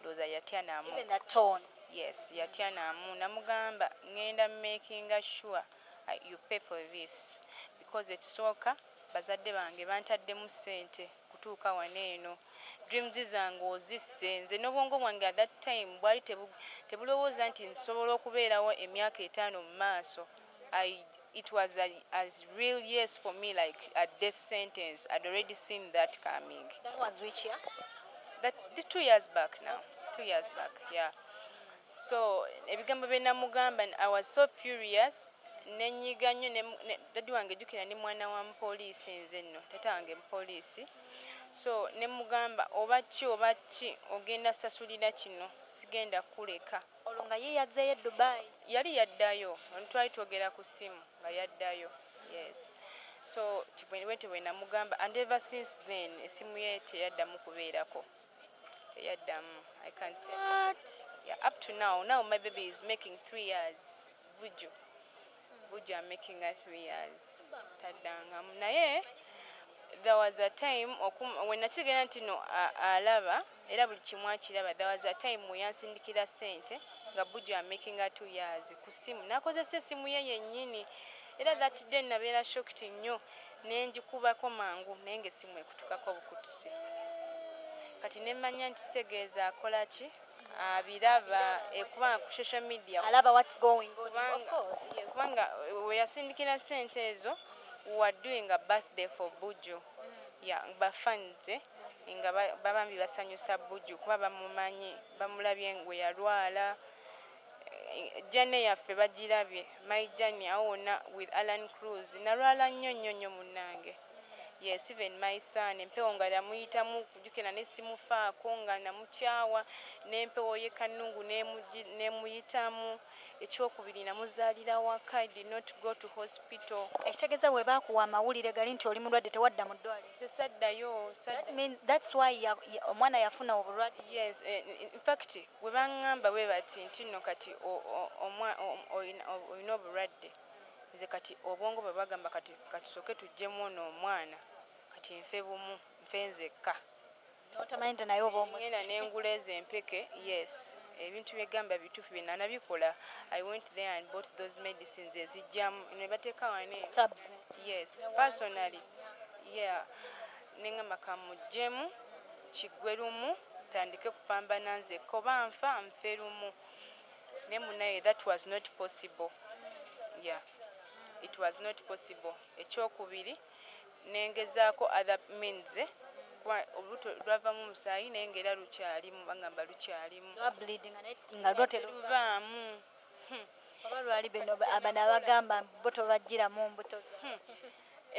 ndowoza yatya namu yes yatya namu namugamba ngenda makinga sure u pay for this because ekisooka bazadde bange bantaddemu sente kutuuka wano eno dreams zange ozisse nze nobwongo bwange at that time bwali tebulowoza nti nsobola okubeerawo emyaka etaano mumaaso I it was a as real yes for me like a death sentence I'd already seen that coming That was which year? that the two years back now two years back yeah so ebigambo bye namugamba I was so furious nenyiga nnyo ne ne daddy wange jukira ndi mwana wa mupoliisi nze nno taata wange mupoliisi so nemugamba oba ki oba ki ogenda sasulira kino sigenda kuleka Olwo nga ye yazzeeyo e Dubai? Yali yaddayo, twali twogera ku ssimu nga yaddayo, yes. So nti bwentyo bwe namugamba and ever since then essimu ye teyaddamu kubeerako, teyaddamu. I can tell you. What? Yeah, up to now, now my baby is making three years, Vujjo. Bujja amakinga three years taddangamu naye there was a time okum, we nakitegeera nti no a, alaba era buli kimu akiraba there was a time we yansindikira ssente nga Bujja amakinga two years ku ssimu nakozesa essimu ye yennyini era that day nabeera shocked nnyo ne ngikubako mangu naye ng'essimu ekutukako bukutusi kati ne mmanya nti kitegeeza akola ki abiraba eh, kubanga ku social media alaba what's going on of course kubanga eh, weyasindikira sente ezo were doing a birthday for buju mm. ya bafanze nga babambi basanyusa buju kuba bamumanyi bamulabye ngwe yalwala eh, jane yaffe bagirabye my jane awo wona with alan cruz nalwala nnyo nnyo nnyo munnange Yes even my son empewo nga yamuyitamu kujukira nali simufaako nga namukyawa nempewo ye kanungu nemuyitamu ekyokubiri namuzalira waka I did not go to hospital. Ekitegeza bwebakuwa amawulire gali nti oli mulwadde tewadda mu ddwaliro? Nze saddayo sadda. That's why ya omwana yafuna obulwadde. Yes infact bwebangamba bwebati ntinno kati omwa oyina obulwadde. Nze kati obwongo bwebagamba kati katusooke tujjemu ono omwana kati nfe bumu nfe nzekka. Notamanyi nti naye oba omusse. Ngenda nengula ezo empeke yes ebintu byegamba bituufu byenanabikola I went there and bought those medicines ezijjamu nebateeka wano eno Tabs yes ne wansi personally wonna. yeah nengamba kamujjemu kiggwe lumu ntandike kupambana nzekka oba nfa nfe lumu. Naye munaye that was not possible yeah it was not possible ekyokubiri nengezako other means kuba olubuto lwavamu omusaayi naye nga era lukyalimu bangamba lukyalimu teruvaamu hmm. oba lwali bino abano abagamba bo tobajjiramu mbuto hmm.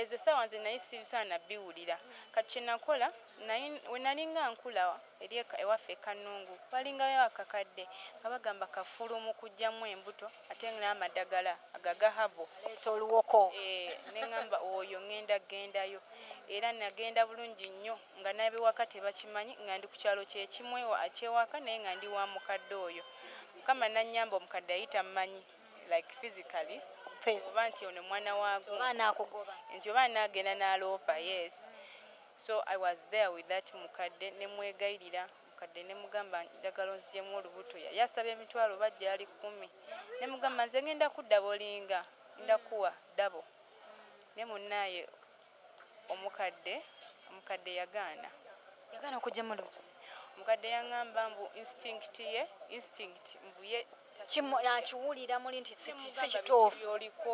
Ezo essaawa nze nnali sisaana biwulira. Kati kye nakola, nnali, we nnalinga nkula eri e, ewaffe e Kannungu, waalingayo akakadde, nga bagamba kafulu mu kuggyamu embuto, ate n'amadagala ago aga herbal. Aleeta oluwoko. Eeh, ne ngamba, Oyo ŋŋenda kgendayo. Era nnagenda bulungi nnyo, nga n'ab'ewaka tebakimanyi, nga ndi ku kyalo kye kimu ewa, eky'ewaka, naye nga ndi wa mukadde oyo. Mukama n'annyamba, omukadde yali tammanyi. like physically Face. oba nti ono mwana wagu Oba anaakugoba. nti oba anagenda naloopa yes so I was there with that mukadde nemwegayirira mukadde nemugamba njagala onzijemu olubuto yali asaba emitwalo oba jaali kumi nemugamba nze ngenda kudda bolinga ngenda kuwa double naye munaye omukadde, omukadde yagaana. Yagaana okujja mu lubuto? Omukadde yangamba mbu instinct ye, instinct mbu ye takiwulira. Akiwulira muli nti si kituufu. Nze mugamba biki byoliko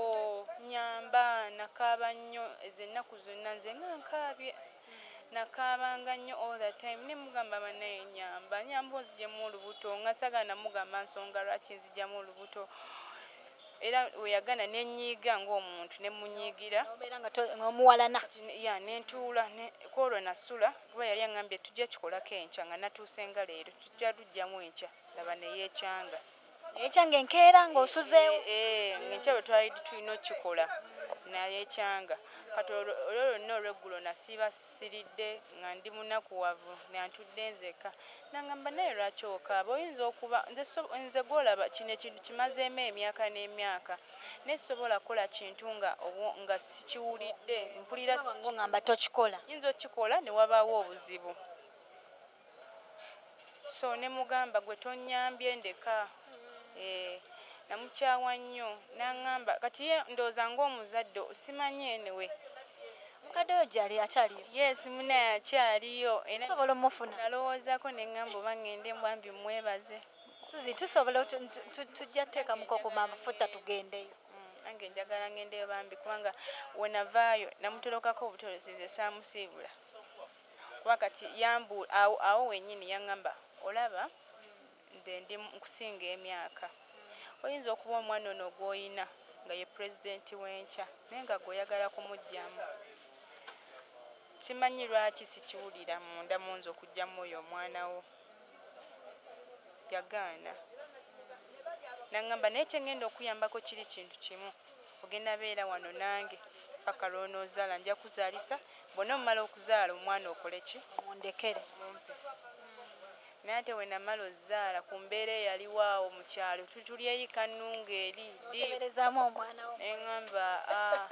nyamba, nakaaba nnyo ezo ennaku zonna nze nga nkaabye, nakaabanga nnyo all the time ne mugamba banaye nyamba, nyamba onzijemu olubuto nga sagala namugamba nsonga lwaki nzijamu olubuto, Era bwe yagaana ne nnyiiga ng'omuntu, ne mmunyiigira. N'obeera nga to, nga omuwalana. Kati ne, ya, ne ntuula, ne, ku olwo nasula, kuba yali aŋŋambye, Tujja kikolako enkya, nga natuuse nga leero. Tujja luggyamu enkya. Laba, ne yeecanga. Ne yeecanga enkeera, nga osuzeewo. E, e, e, nga enkya bwe twali tulina okukikola. Na yeecanga. Kati olwo, olwo lwonna olw'eggulo nasiiba siridde, nga ndi munakuwavu, nga ntudde nzekka. Nangamba naye lwaki okaaba oyinza okuba nze so nze gwolaba kino ekintu kimazeemu emyaka n'emyaka naye sisobola kukola kintu nga obwo nga sikiwulidde mpulira Kyoka bangu ongamba tokikola. nyinza okikola ne wabaawo obuzibu so ne mugamba gwe tonyambye ndeka. Eeh namukyawa nnyo nangamba kati ye ndowooza nga omuzadde simanyi anyway. Mukadde wo jali akyaliyo? Yes munaye akyaliyo era Tusobola omufuna? nalowoozako nengamba oba ngende mbwambi mwebaze. Suzie tusobola tujja tekamuko ku mafuta tugendeyo. Nange njagala ngendeyo bambi kubanga wenavaayo namutolokako obutolozi nze saamusiibula kuba kati yambuula awo awo wenyini yangamba olaba Nze ndi nkusinga emyaka. Oyinza okuba omwana ono gw'oyina nga ye Pulezidenti w'enkya naye nga gwe oyagala kumuggyamu. Simanyi lwaki sikiwulira munda mu nze okuggyamu oyo omwana wo. Yagaana. N'angamba naye kye ngenda okukuyambako kiri kintu kimu, ogenda beera wano nange paka lw'onoozaala. Nja kuzaalisa, bw'onoomala okuzaala omwana okole ki? Omundekere. Omumpe. Naye ate wenamala ozaala ku mbeera eyaliwo awo mu kyalo tuli tuli eri Kannungu eri ddi ne ngamba aah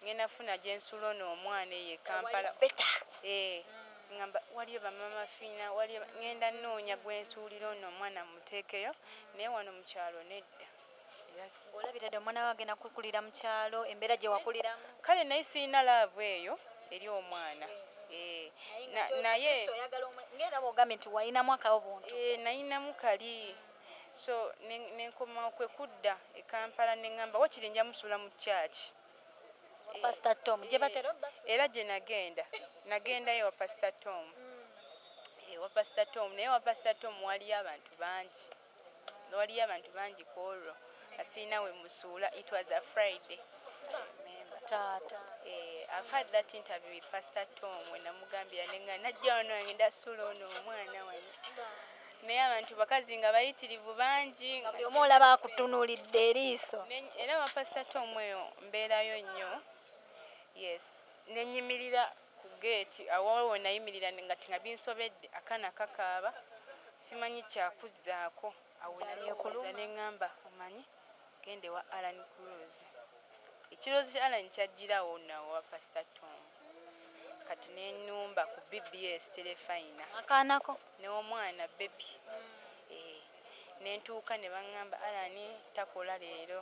ngenda kufuna gye nsuula ono omwana eyo e Kampala eeh ngamba waliyo ba Maama Fiina waliyo ba ngenda nnoonya gwe nsuulira ono omwana mmuteekeyo naye wano mu kyalo nedda. Olabira dda omwana wo agenda kukulira mu kyalo embeera gye wakuliramu. Kale naye sirina laavu eyo eri omwana eeh naye. Ng'era bw'ogambye nti walinamu akabuntu. Eeh nalinamu kali so ne nkomawo kwe kudda e Kampala ne ngamba waakiri nja musuula mu church eeh era gye nagenda nagendayo ewa Pastor Tom eeh ewa Pastor Tom naye ewa Pastor Tom waaliyo abantu bangi. Waliyo abantu bangi kwolwo nga sirina wemusuula it was a Friday I remember Taata. Eeh I've had that interview with pastor Tom wenamugambira nengana najja wano ngenda suula ono omwana wano naye abantu bakazi nga bayitirivu bangi Nga buli omu olaba akutunulidde eriiso. Neny era wa pastor Tom eyo mbeerayo nnyo yes nenyimirira Ku geeti awo waliwo we nayimirira nga nga binsobedde, akaana kakaaba simanyi kya kuzzaako. Awo ne neekuuliza ne ng'amba omanyi genda ewa Allan Cruz. Ekirowoozo kya Allan kyajjira awo nno awo ewa Pasita Tom. Kati ne nnumba ku BBS Terefayina. Akaana ko. N'omwana, bbebi. Eeh. Ne ntuuka ne bang'amba Allan takola leero.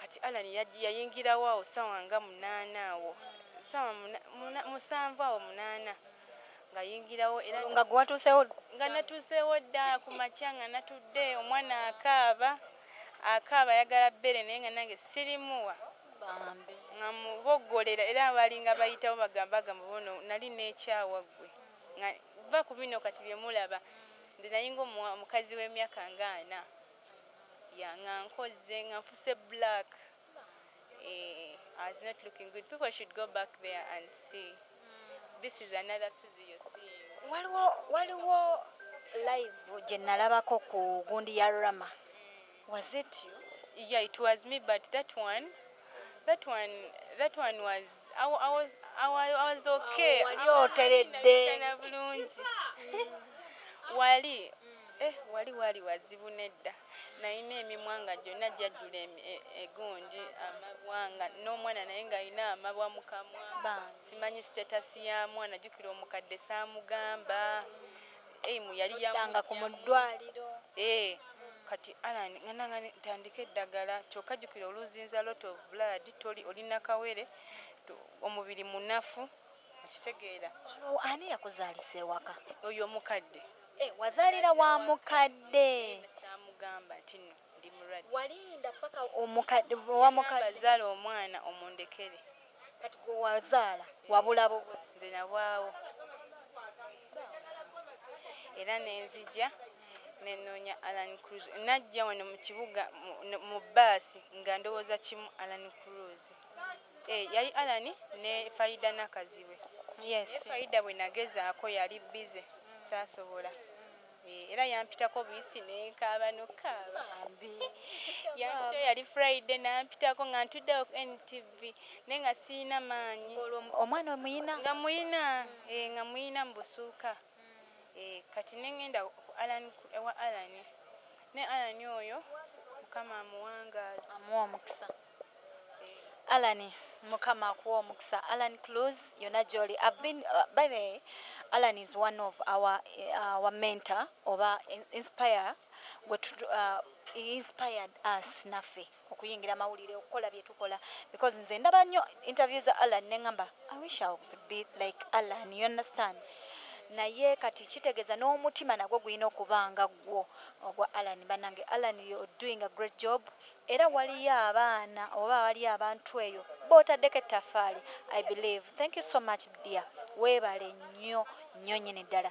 Kati Allan yajj yayingirawo awo ssawa nga munaana awo ssawa muna muna musanvu awo munaana nga yingirawo era Olwo nga gwe watuuseewo dda ku nga musanvu? natuuseewo dda ku makya nga natudde omwana akaaba akaaba ayagala bbeere naye nga nange sirimuwa Bambi. nga muboggolera era baalinga bayitawo baga bagamba oba ono nali neekyawa ggwe nga vva ku bino kati bye mulaba nze nayinga omuwa omukazi w'emyaka nga ana. Yeah nga nkozze nga nfuse black eeh as not looking good people should go back there and see this is another suzi you're seeing. Waliwo waliwo live gyenalabako ku gundi ya Rama was it you? Yeah it was me but that one. That one that one was I, wa- I was I, wa- I was okay. Awo wali Awo oteredde. nalabikana bulungi. wali eh wali wali wazibu nedda. Nalina emimwa nga gyonna gyajjula emi- e- egundi amabwa nga n'omwana naye ng'alina amabwa mu kamwa. Bambi. Simanyi status ya mwana jjukira omukadde saamugamba Aim yali ya Oddanga ku mu ddwaliro. Eeh kati Allan ngana nga ntandika eddagala kyoka jukira oluzinza lot of blood toli oli nakawere omubiri munafu okitegeera. Olwo ani yakuzalisa ewaka. Oyo omukadde. Eeh wazalira wa mukadde. Eeh samugamba tino. ndi mulwaddeNgamba zaala omwana omundekere. Kati gwe wazaala wabula bubuzi. Nze nabwawo era nenzija nenoonya Allan Cruz. Najja wano mu kibuga mu bbaasi nga ndowooza kimu Allan Cruz. Eh, yali Allan ne Faridah Nakazibwe. Naye Faridah bwe nagezaako yali bbize saasobola. Eh, era yampitako buyisi nenkaaba nokukaaba bambi yampita yali friday nampitako nga ntudde awo ku ntv naye nga siyina maanyi omwana omuyina nga muyina eh, nga muyina mubusuuka hmm. eh, kati nengenda ewa alani ne alani oyo mukama amuwangaaza amuwa omukisa Allan mukama akuwe omukisa Allan Clues yona gyoli I've been uh, by the way Allan is one of our uh, our mentor oba inspire gwe uh, he inspired us naffe okuyingira amawulire okukola bye tukola because nze ndaba nnyo interview za Allan ne ngamba I wish I could be like Allan you understand naye kati kitegeeza n'omutima nagwo gulina okuba nga ggwo ogwa Allan banange Allan you're doing a great job Era waliyo abaana oba waliyo abantu eyo botadeko ettafali I believe thank you so much dear webale nyo nyo nyini ddala.